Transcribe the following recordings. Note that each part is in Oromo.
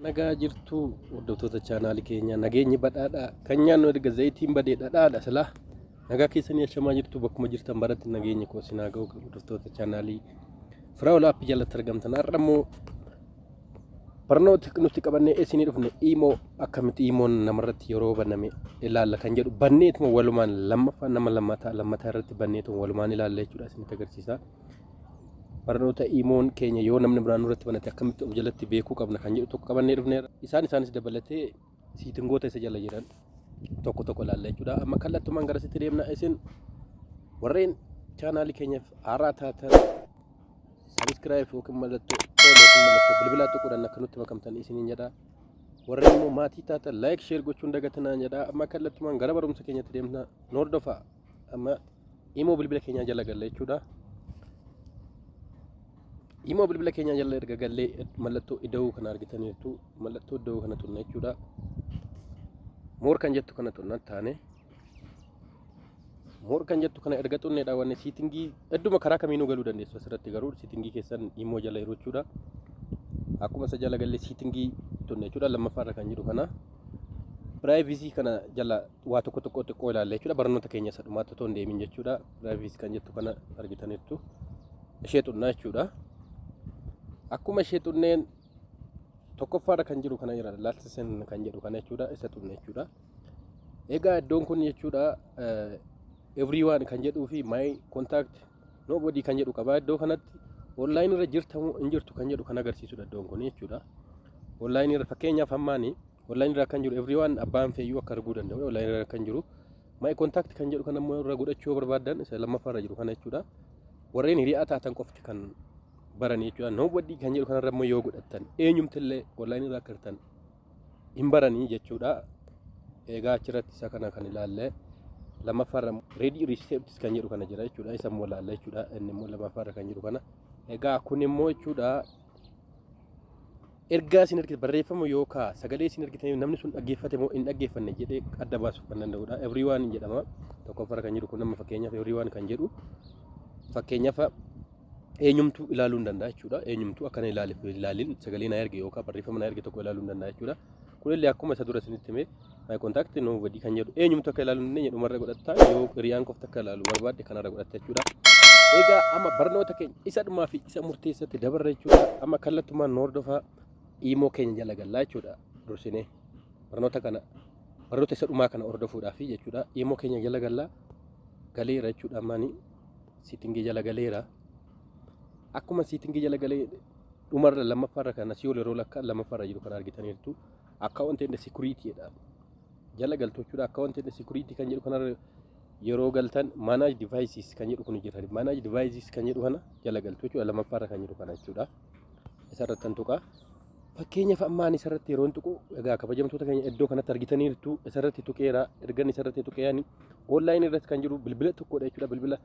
nagaa jirtu hordoftoota chaanaali keenya nageenyi badhaadha kan nyaannu erga zayitiin badee dhadhaadha silaa nagaa keessanii ashamaa jirtu bakkuma jirtan baratti nageenya koo sinaa ga'u hordoftoota chaanaalii firaa olaappi jalatti argamtan har'a immoo Barnooti nuti qabannee eessinii dhufne iimoo akkamitti iimoon namarratti yeroo baname ilaalla kan jedhu banneetuma walumaan lammaffaa nama lammataa lammataa irratti banneetuma walumaan ilaalla jechuudha isinitti agarsiisa. Barnoota iimoon keenya yoo namni biraan nurratti banate akkamitti of jalatti beekuu qabna kan jedhu tokko qabannee dhufneera. Isaan isaanis dabalatee siitingoota isa jala jiran tokko tokko ilaalla jechuudha. Amma kallattumaan gara sitti deemna isin warreen chaanaalii keenyaaf haaraa taatan sabiskiraayif yookiin mallattoo ool yookiin mallattoo bilbilaa tuquudhaan akka nutti makamtan isiniin jedha. Warreen immoo maatii taatan laayik sheer gochuun dagatinaan jedha. Amma kallattumaan gara barumsa keenyatti deemna. Noordofaa. amma imoo bilbila keenyaa jala galla jechuudha. Imoo bilbila keenyaa jala erga gallee mallattoo ida'uu kana argitaniirtu mallattoo ida'uu kana tunna jechuudha. Moor kan jettu kana tunna taane. Moor kan jettu kana erga tunne dhaawwanne siitingii hedduma karaa kamiinuu galuu dandeessu asirratti garuu siitingii keessan imoo jala yeroo jechuudha. Akkuma isa jala gallee siitingii tunne jechuudha lammaffaarra kan jiru kana. Piraayivizii kana jala waa tokko tokko xiqqoo ilaalla jechuudha. Barnoota keenya isa dhumaatti otoo hin deemin jechuudha. Piraayiveesii kan jettu kana argitaniittu. Ishee xunnaa jechuudha. Akkuma ishee xunneen tokkoffaarra kan jiru kana jira laalchisen kan jedhu kana jechuudha. Isa xunne jechuudha. Egaa iddoon kun jechuudha everyone kan jedhuu fi my contact nobody kan jedhu qaba. Iddoo kanatti online irra jirtamu hin jirtu kan jedhu kan agarsiisudha iddoon kun jechuudha. Online irra fakkeenyaaf hammaanii Online irra kan jiru everyone abbaan feeyyuu akka arguu danda'u online irra kan jiru my contact kan jedhu kan ammoo irra godhachuu yoo barbaadan isa lammaffaa irra jiru kana jechuudha. Warreen hiriyaa taatan qofti kan baran jechuudha. Nobody kan jedhu kanarra immoo yoo godhattan eenyumtillee online irra akka hirtan hin baranii jechuudha. Egaa achirratti isa kana kan ilaalle lammaffaa irra ready receipts kan jedhu kana jira jechuudha. Isa immoo ilaalla jechuudha. Inni immoo lammaffaa irra kan jiru kana. Egaa kun immoo jechuudha Ergaa isin ergitan barreeffama yookaa sagalee isin ergitan namni sun dhaggeeffate moo hin dhaggeeffanne jedhee adda baasuuf kan danda'udha. Everyone hin jedhama. Tokkoffaarra kan jiru kun amma fakkeenyaaf everyone kan jedhu fakkeenyaaf eenyumtuu ilaaluu hin danda'a jechuudha. Eenyumtuu akkana ilaaliif ilaalin sagalee na erge yookaan barreeffama na erge tokko ilaaluu hin danda'a jechuudha. Kunillee akkuma isa dura isinitti himee My contact nobody kan jedhu eenyumtu akka ilaalu hin dandeenye dhumarra godhatta yoo hiriyaan qofti akka ilaalu barbaadde kanarra godhatta jechuudha. Egaa amma barnoota keenya isa dhumaa fi isa murteessatti dabarra jechuudha. Amma kallattumaan nu hordofaa iimoo keenya jala gallaa jechuudha. Dursinee barnoota kana barnoota isa dhumaa kana hordofuudhaaf jechuudha. Iimoo keenya jala gallaa galeera jechuudha ammaanii siitingii jala galeera. Akkuma siitingii jala galee dhumarra lammaffaarra kan asii ol yeroo lakkaa lammaffaarra jiru kan argitaniirtu. Account and security jedha. Jala galtochuudha account and security kan jedhu kanarra yeroo galtan manage devices kan jedhu kun jira. Manage devices kan jedhu kana jala galtochuudha lammaffaarra kan jedhu kana jechuudha. Isarratti kan tuqaa. Fakkeenyaaf amma ani isarratti yeroon tuqu egaa kabajamtoota keenya iddoo kanatti argitaniirtu isarratti tuqeera ergan isarratti tuqeeyani online irratti kan jiru bilbila tokkodha jechuudha bilbila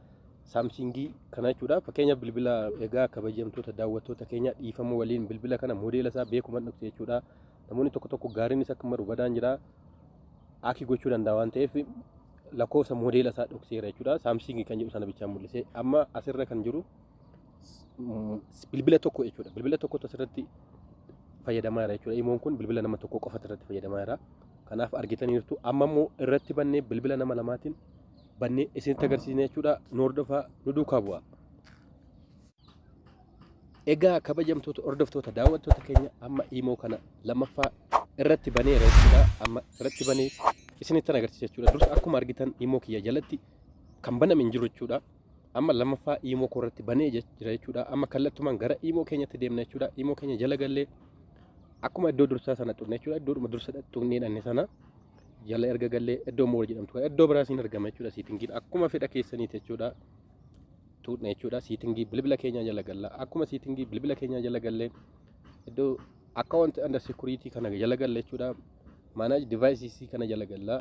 saamsingii kana jechuudha fakkeenyaaf bilbila egaa kabajamtoota daawwattoota keenya dhiifama waliin bilbila kana modeela isaa beekuman dhufte jechuudha namoonni tokko tokko gaariinis akka maru badaan jira akki gochuu danda'a waan ta'eef lakkoofsa moodeela isaa dhokseera jechuudha saamsiingii kan jedhu sana bichaa mul'isee amma asirra kan jiru mm, bilbila tokko jechuudha bilbila tokkotu asirratti fayyadamaa jira jechuudha imoon kun bilbila nama tokko qofatu irratti fayyadamaa jira kanaaf argitaniirtu amma immoo irratti bannee bilbila nama lamaatiin bannee isinitti agarsiisne jechuudha nu hordofaa nu duukaa bu'aa. Egaa kabajamtoota hordoftoota daawwattoota keenya amma imoo kana lammaffaa irratti banee jechuudha. Amma irratti banee isinittan agarsiisa jechuudha. Dursa akkuma argitan imoo kiyya jalatti kan baname hin jiru jechuudha. Amma lammaffaa imoo koo irratti banee jira jechuudha. Amma kallattumaan gara imoo keenyatti deemna jechuudha. Imoo keenya jala gallee akkuma iddoo dursaa sana tuqne jechuudha. Iddoodhuma dursa tuqnee dhanne sana jala erga gallee iddoo mool jedhamtu iddoo biraas hin argama jechuudha. Siitingiin akkuma fedha keessaniiti jechuudha. tuudhna jechuudha siitingii bilbila keenyaa jala galla akkuma siitingii bilbila keenyaa jala gallee iddoo account under security kana jala galla jechuudha manage devices kana jala galla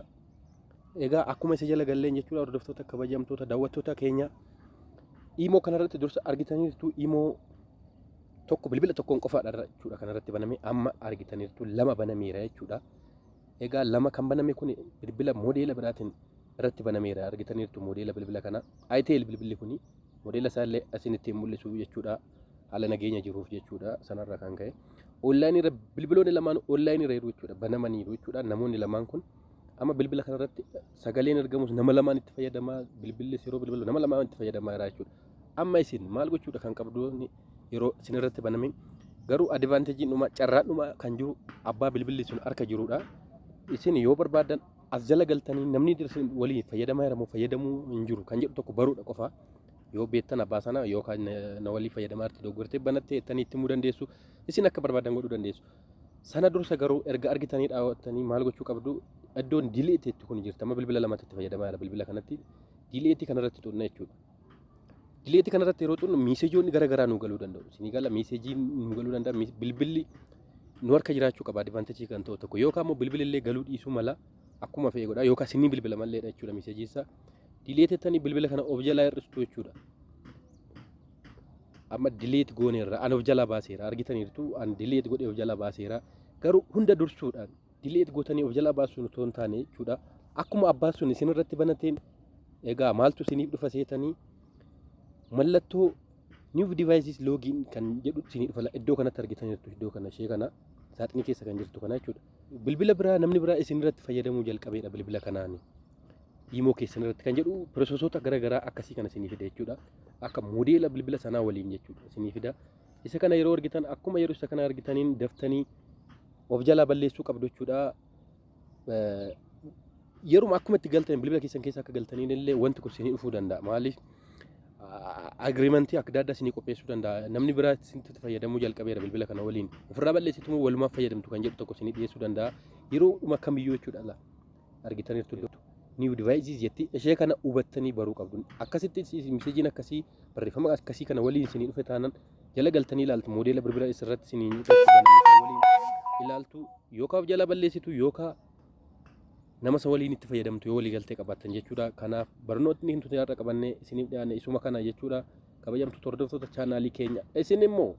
egaa akkuma isa jala galleen jechuudha hordoftoota kabajamtoota daawwattoota keenya imoo kanarratti dursa argitaniirtu imoo tokko bilbila tokkoon qofaadha jechuudha kanarratti baname amma argitaniirtu lama banameera jechuudha egaa lama kan baname kun bilbila modeela biraatiin irratti banameera argitaniirtu moodeela bilbila kana ITL bilbilli kuni moodeela isaa illee asiin ittiin mul'isu jechuudha haala nageenya jiruuf jechuudha sanarra kan ka'e onlaayinii irra bilbiloonni lamaan onlaayinii irra jiru jechuudha banamaniiru jechuudha namoonni lamaan kun amma bilbila kanarratti sagaleen ergamus nama lamaan itti fayyadamaa bilbillis yeroo bilbilu nama lamaan itti fayyadamaa jira jechuudha amma isin maal gochuudha kan qabdoonni yeroo isin irratti banamin garuu adivaanteejiin dhuma carraan dhuma kan jiru abbaa bilbilli sun harka jirudha isin yoo barbaadan as jala galtanii namni dirsi waliin fayyadamaa jira moo fayyadamuu hin jiru kan jedhu tokko baruudha qofa yoo beektan abbaa sana yookaan na- na walii fayyadamaa irratti dogoggortee banattee ittanii itti himuu dandeessu isin akka barbaadan godhuu dandeessu sana dursa garuu erga argitanii dhaawwattanii maal gochuu qabdu iddoon dileetti itti kun jirtama bilbila lamatti itti fayyadamaa jira bilbila kanatti dileetti kanarratti tuqna jechuudha Dileetii kanarratti yeroo xunnu miiseejoonni gara garaa nu galuu danda'u. Isinii gala miiseejiin nu galuu danda'a. Miis- Bilbilli nu harka jiraachuu qaba adivantajii kan ta'u tokko yookaan immoo bilbilli illee galuu dhiisuu mala akkuma fe'e godha yookaan isinii bilbila malleedha jechuudha miiseejii isaa. Dileetettanii bilbila kana of jalaa hir'istu jechuudha. amma dileet gooneerra an of jalaa baaseera argitaniirtu an dileet godhee of jalaa baaseera garuu hunda dursuudhaan Dileet gootanii of jalaa baasuun otoo hin taane jechuudha. Akkuma abbaan sun isin irratti banateen egaa maaltu isiniif dhufa seetanii mallattoo new devices login kan jedhu isinii dhufa iddoo kanatti argitan jirtu iddoo kana ishee kana saaxinii keessa kan jirtu kana jechuudha. Bilbila biraa namni biraa isin irratti fayyadamuu jalqabeedha bilbila kanaani. Imoo keessan irratti kan jedhu piroososoota garaagaraa akkasii kana isinii fida jechuudha. Akka moodeela bilbila sanaa waliin jechuudha isinii fida. Isa kana yeroo argitan akkuma yeroo isa kana argitaniin daftanii of jalaa balleessuu qabdu jechuudha. Yeruma akkuma itti galtan bilbila keessan keessa akka galtaniin illee wanti kun isinii dhufuu danda'a. Maaliif agiriimantii adda addaa isinii qopheessuu danda'a. Namni biraa isinitti fayyadamuu jalqabeera bilbila kana waliin. Ofirraa balleessitu moo walumaaf fayyadamtu kan jedhu tokko isinii dhiyeessuu danda'a. Yeroo dhuma kamiyyuu jechuudha argitaniirtu. New devices jetti ishee kana hubattanii baruu qabdu. Akkasitti miseejiin akkasii barreeffama akkasii kana waliin isinii dhufe taanan jala galtanii ilaaltu moodeela bilbila isirratti isinii waliin ilaaltu yookaaf jala balleessitu yookaa nama isa waliin itti fayyadamtu yoo walii galtee qabaatan jechuudha. Kanaaf barnootni hin tutee har'a qabannee isiniif dhiyaanne isuma kana jechuudha. Kabajamtu hordoftoota chaanaalii keenya isin immoo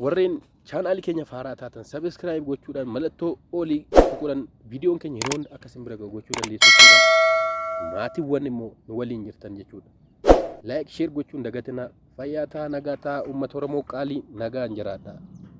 warreen Chaanaali keenya faaraa taatan sabiskiraayib gochuudhaan mallattoo olii tuquudhaan viidiyoon keenya yeroo hunda akka isin bira ga'u gochuu dandeessu jechuudha. Maatiiwwan immoo nu waliin jirtan jechuudha. Laayik sheer gochuun dagatinaa fayyaa taa nagaa taa uummata Oromoo qaalii nagaan jiraadha.